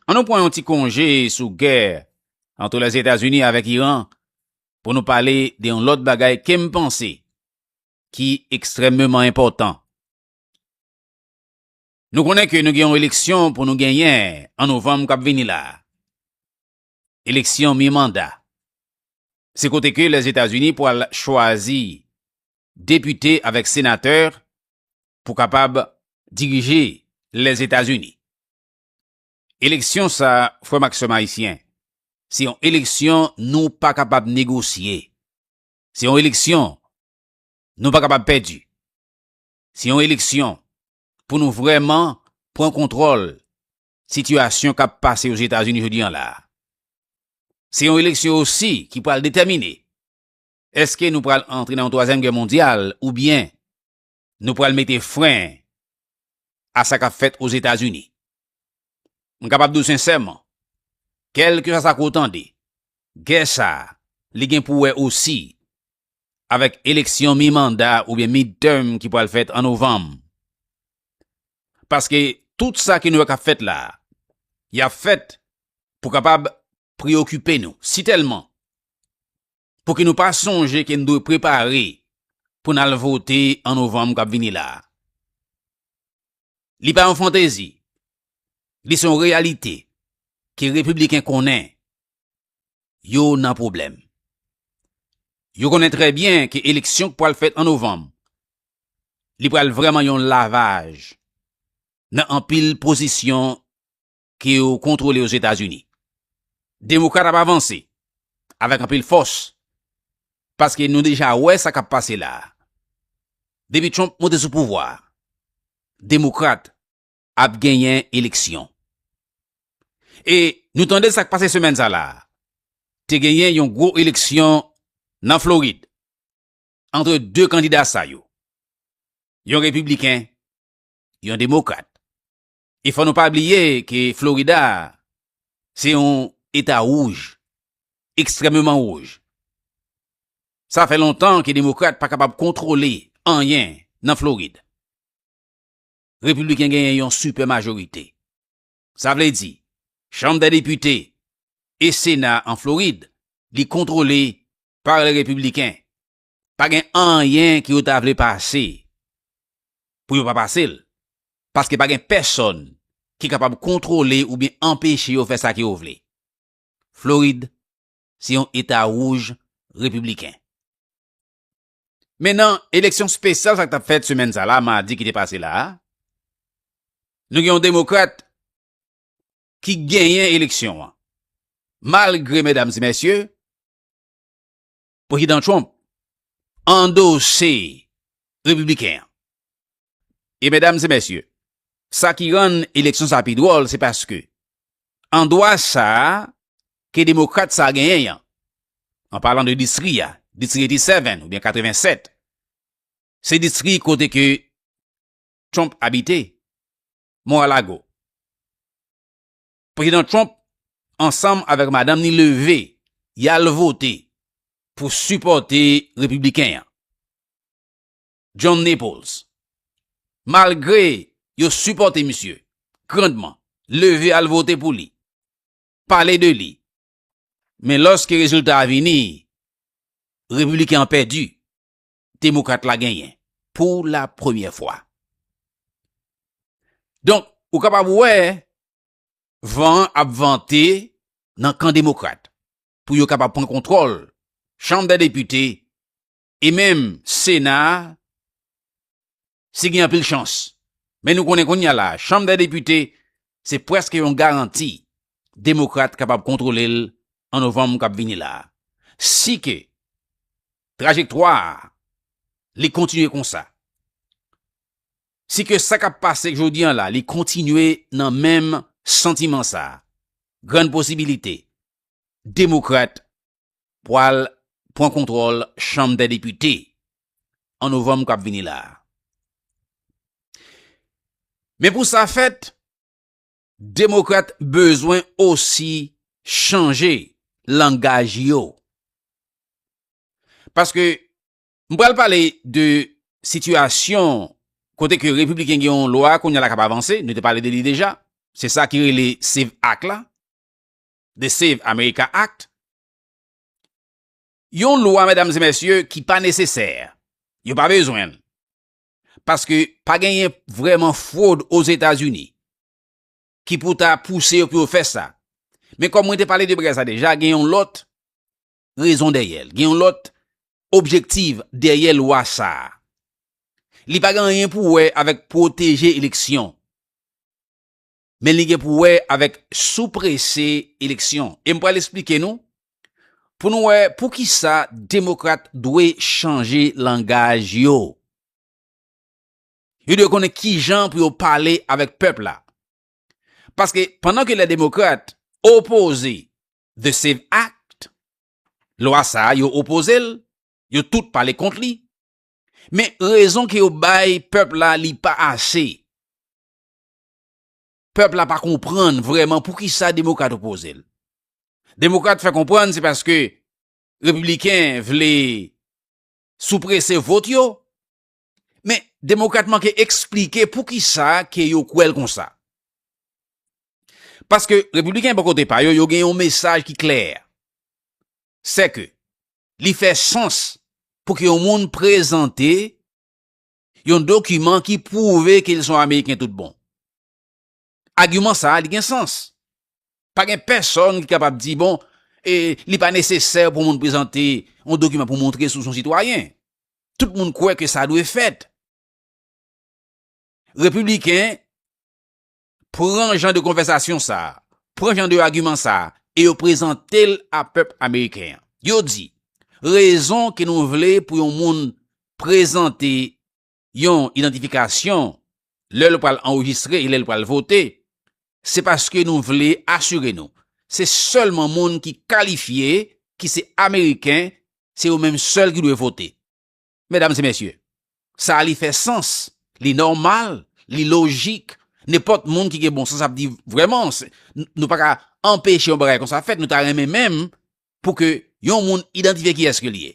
An nou pran yon ti konje sou gè antre Lèzetazini avèk Iran pou nou pale de yon lòt bagay ke m panse ki ekstrèmeman enpòtan. Nou konnen ke nou gen yon eleksyon pou nou genyen an novanm k ap vini la a, eleksyon mi-manda. Se kote ke Lèzetazini pral chwazi depite avèk senatè pou kapab dirije Lèzetazini. Eleksyon sa, frè m ak sè m ayisyen, se yon eleksyon nou pa kapab negosye, se yon eleksyon nou pa kapab pèdi, se yon eleksyon pou nou vrèman pran kontwòl sitiyasyon k ap pase Ozetazini jodi an la a. Se yon eleksyon osi ki pral detèmine Eske nou pral antre nan yon twazyèm gè mondyal oubyen nou pral mete fren a sa kap fèt Ozetazini? M kapab di w sensèman, kèlkeswa sa ke w tande, gè sa a, li gen pou wè osi avèk eleksyon mi manda oubyen midterm ki pral fèt an novanm. Paske tout sa ke nou wè kap fèt la a, yap fèt pou kapab preyokipe nou. Si tèlman Pouki nou pa sonje ke n dwe prepare pou n al vote an novanm k ap vini la a? Li pa yon fantezi, li se yon reyalite ke Repibliken konnen yo nan pwoblèm. Yo konnen trè byen ke eleksyon k pral fèt an novanm, li pral vrèman yon lavaj nan anpil pozisyon ke yo kontwole Ozetazini. Demokrat ap avanse avèk anpil fòs paske nou deja wè sa kap pase la a. Depi Trump monte sou pouvwa a, Demokrat ap genyen eleksyon. E nou tande sak pase semèn sa la a. Te genyen yon gwo eleksyon nan Florid antre 2 kandida sa yo. Yon Repibliken, yon Demokrat. E fò nou pa bliye ke Florida se yon eta wouj, ekstrèmeman wouj. Sa fè lontan ke demokrat pa kapab kontwole anyen nan Florid. Repibliken genyen yon sipè majorite. Sa vle di, chanm dè depite e sena an Florid li kontwole par lè repibliken. Pa gen anyen ke yo ta vle pase pou yo pa pase l, paske pa gen pèsòn ki kapab kontwole oubyen anpeche yo fè sa ke yo vle. Florid se yon eta wouj repibliken. Men nan eleksyon spesyal sa k tap fèt semèn sa la, madi ki te pase la a, nou gen yon demokrat ki genyen eleksyon an, malgre medam e mesye, Prezidan Trump andose Repibliken an. E medam e mesye, sa ki rann eleksyon sa pi dwòl se paske an dwa sa ke Demokrat sa genyen an, an palan de distri a, Distri 87 oubyen 87, se distri kote ke Trump abite, Mar-a-Lago. Prezidan Trump ansanm avèk madanm ni leve y al vote pou sipòte repibliken an, John Naples. Malgre yo sipòte misye grandman, leve al vote pou li, pale de li, men lòske rezilta a vini, repibliken an pèdi. Demokrat la genyen pou la premyè fwa. Donk, ou kapab wè van an ap vante nan kan Demokrat pou yo kapab pran kontwòl Chanm dè Depite e menm Sena a si gen anpil chans. Men nou konnen kounye a la, Chanm dè Depite se prèske yon garanti Demokrat kapab kontwole l an novanm k ap vini la. Si ke trajektwa li kontinye konsa, si ke sa k ap pase jodi an la li kontinye nan menm santiman sa, grann posibilite Demokrat pwal pwan kontwòl chanm dè depite an novanm kap vini la. Men pou sa fèt, demokrat bezwen osi chanje langaj yo. Paske m pwal pale de sitiyasyon kote ke republiken gen yon lwa kounye la kap avanse, nou te pale de li deja, se sa ki rele save ak la. The Save America Act, yon lwa medam e mesye ki pa nesesè, yo pa bezwen l, paske pa genyen vreman fwod ozetazini, ki pou ta pouse yo pou yo fè sa, men kom mwen te pale de bagay sa deja, gen yon lot rezon dèyè l, gen yon lot objektiv dèyè lwa sa, li pa gen anyen pou wè avèk pwoteje eleksyon, men li gen pou wè avèk sou prese eleksyon. E m pral esplike nou pou nou wè pou ki sa demokrat dwe chanje langaj yo. Yo dwe konnen ki jan pou yo pale avèk pèp la. Paske pandan ke lè demokrat opoze The Save Act, Lwa sa a yo opoze l, yo tout pale kont li, men rezon ke yo bay pèp la li pa ase. Pèp la pa konprann vrèman pou ki sa demokrat opoze l. Demokrat fè konprann se paske repibliken vle sou prese vot yo, men demokrat manke eksplike pou ki sa ke yo kwè l konsa. Paske repibliken bò kote pa yo, yo gen yon mesaj ki klè, se ke li fè sans pou ke yon moun prezante, yon dokiman ki pwouve ke li son Ameriken tout bon. Agiman sa a li gen sans. Pa gen pèsòn ki kapab di bon, e li pa nesesè pou moun prezante yon dokiman pou montre sou son sitwayen. Tout moun kwè ke sa dwe fèt. Repibliken pran jan de konvèsasyon sa a, pran jan de agiman sa a e yo prezante l a pèp ameriken an. Yo di, rezon ke nou vle pou yon moun prezante yon idantifikasyon lè l pral anrejistre e lè l pral vote, se paske nou vle asire nou se sèlman moun ki kalifye, ki se ameriken, se yo menm sèl ki dwe vote. Medam e mesye, sa a li fè sans, li nòmal, li lojik, nenpòt moun ki gen bon sans ap di vrèman, nou pa ka anpeche yon bagay konsa fèt, nou ta renmen menm pou ke yon moun idantifye ki eske li ye.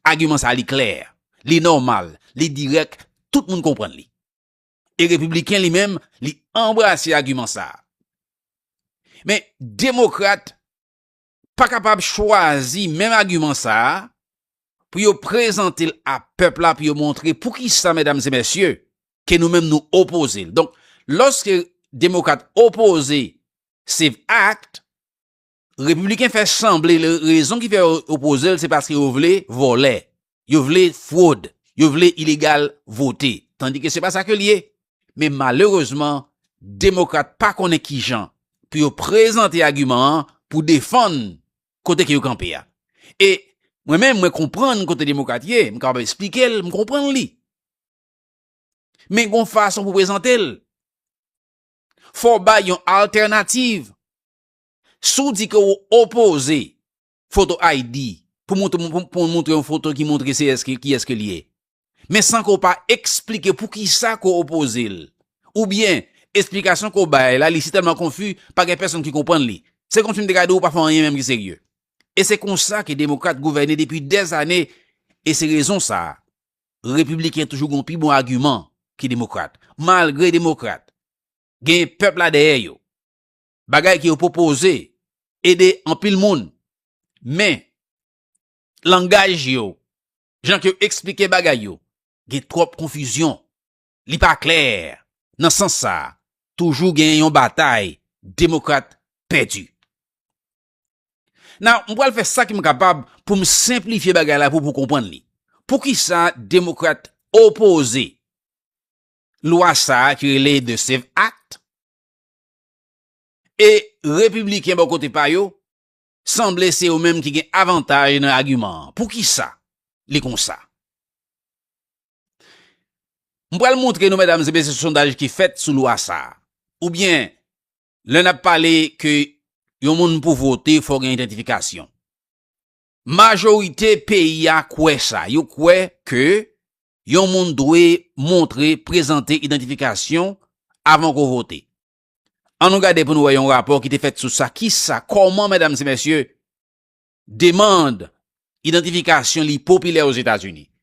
Agiman sa a li klè, li nòmal, li dirèk, tout moun konprann li. E repibliken li menm, li anbrase agiman sa a. Men, demokrat, pa kapab chwazi menm agiman sa a pou yo prezante l a pèp la pou yo montre pou ki sa medam e mesye ke nou menm nou opoze l. Donk loske demokrat opoze save act repibliken fè sanble rezon ki fè yo opoze l se paske yo vle vòlè. Yo vle fwod. Yo vle ilegal vote. Tandi ke se pa sa ke li ye. Men malerezman, demokrat pa konnen ki jan pou yo prezante agiman an pou defann kote ke yo kanpe a. E mwen menm mwen konprann kote demokrat ye, m kapab esplike l, m konprann li. Men gon fason pou prezante l. Fò w bay yon altènativ. Si w di ke w opoze Photo ID, pou w montre yon foto ki montre kiyès ke l ye. Men san ke w pa eksplike poukisa ke w opoze l. Oubyen, esplikasyon ke w bay la, li si tèlman konfi, pa gen pèsonn ki konprann li. Se kòmsi m te ka di w ou pa fè anyen menm ki serye. E se konsa ke Demokrat gouvène depi dè zane, e se rezon sa a, Repibliken toujou gen yon pi bon agiman ke Demokrat. Malgre Demokrat, gen pèp la dèyè yo. bagay ke yo pwopoze ede anpil moun, men langaj yo, jan ke yo eksplike bagay yo, gen twòp konfizyon, li pa klè, nan sans sa, toujou gen yon batay demokrat pèdi. Now, m pral fè sa ke m kapab pou m senplifye bagay la pou pou konprann li. Poukisa demokrat opoze lwa sa ki rele The Save Act, E Repibliken bò kote pa yo, sanble se yo menm ki gen avantaj nan agiman an. Poukisa li konsa? M pral montre nou medam e mesye sondaj ki fèt sou lwa sa. Oubyen lè n ap pale ke yon moun pou vote fò gen identifikasyon. Majorite peyi a kwè sa, yo kwè ke yon moun dwe montre, prezante idantifikasyon avan ke w vote. An nou gade pou nou wè yon rapò ki te fèt sou sa, ki sa, kòman medam e mesye, demand idantifikasyon li popilè Ozetazini.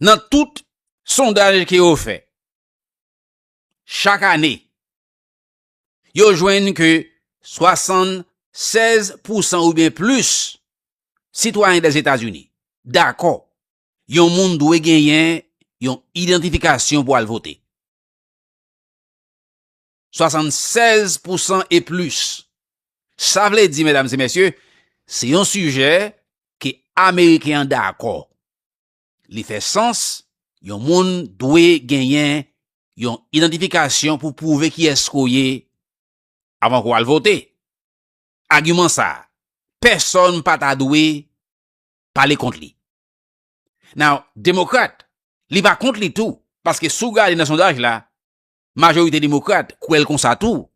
Nan tout sondaj ke yo fè, chak ane, yo jwenn ke 76 pousan ou byen plis sitwayen Dèzetazini dakò yon moun dwe genyen yon idantifikasyon pou al vote. 76 pousan e plis. Sa vle di, medam se mesye, se yon sijè ke Ameriken an dakò. Li fè sans, yon moun dwe genyen yon idantifikasyon pou pwouve kiyès ke w ye avan ke w al vote. Agiman sa a, pèsòn pa ta dwe pale kont li. Now, Demokrat, li pa kont li tou, paske si w gade nan sondaj la, majorite Demokrat kwè l konsa tou.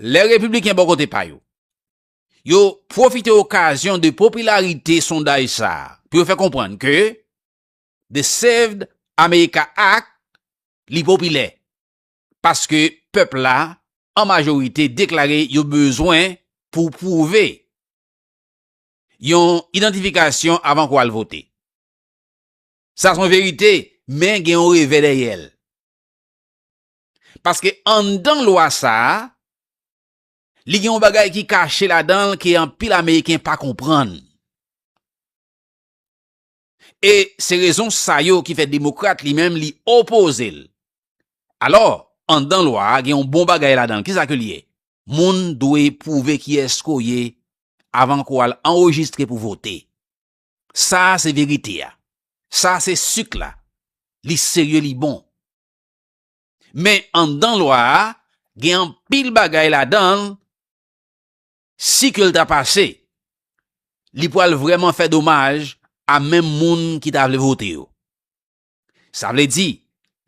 Lè Repibliken bò kote pa yo, Yo pwofite okazyon de popilarite sondaj sa pou yo fè konprann ke The Saved America Act li popilè, paske pèp la an majorite deklare yo bezwen pou pwouve yon idantifikasyon avan kou al vote. Sa son verite, men gen yon revè dèyè l. Paske anndan lwa sa, Li gen yon bagay ki kache ladan l ke anpil Ameriken pa konprann. E se rezon sa yo ki fè Demokrat li menm li opoze l. Alò, anndan lwa a gen yon bon bagay ladan l. Kisa ke l ye? Moun dwe pwouve kiyès ke w ye avan ke w al anrejistre pou vote. Sa a se verite a. Sa a se suk la. Li serye, li bon. Men anndan lwa a gen anpil bagay ladan l si ke l ta pase li pral vrèman fè domaj a menm moun ki ta vle vote yo. Sa vle di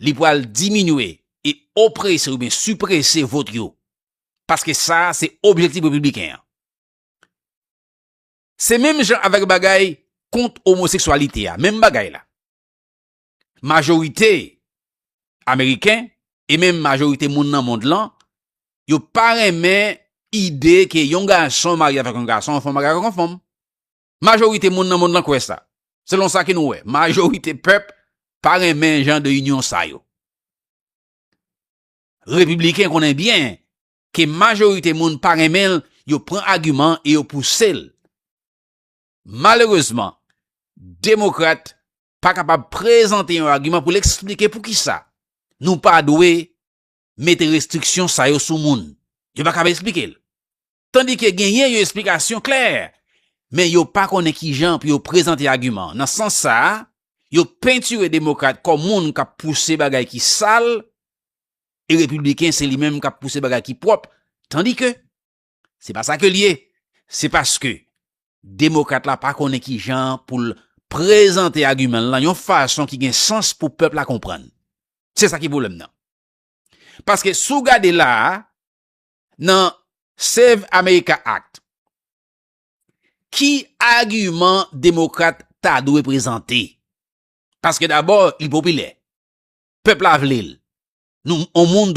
li pral diminye e oprese oubyen siprese vot yo paske sa se objektif repibliken an. Se menm jan avèk bagay kont omoseksyalite a, menm bagay la. majorite Ameriken e menm majorite moun nan mond lan, yo pa renmen ide ke yon gason marye avèk yon gason, yon fanm marye avèk yon fanm. Majorite moun nan mond lan kwè sa. Selon sa ke nou wè, majorite pèp pa renmen jan de inyon sa yo. Repibliken konnen byen ke majorite moun pa renmen l, yo pran agiman e yo pouse l. Malerezman, Demokrat pa kapab prezante yon agiman pou l eksplike poukisa nou pa dwe mete restriksyon sa yo sou moun. Yo pa kapab eksplike l. Tandike genyen yon esplikasyon klè, men yo pa konnen kijan pou yo prezante agiman. Nan sans sa, yo pentire Demokrat kòm moun k ap pouse bagay ki sal, e Repibliken se li menm k ap pouse bagay ki pwòp. Tandike. Se pa sa ke l ye. Se paske demokrat la pa konnen ki jan pou l prezante agiman l lan yon fason ki gen sans pou pèp la konprann. Se sa ki pwoblèm nan. Paske si w gade la a, nan Save America Act, ki agiman demokrat ta dwe prezante? Paske dabò, li popilè. Pèp la vle l. Nou, yon moun dwe.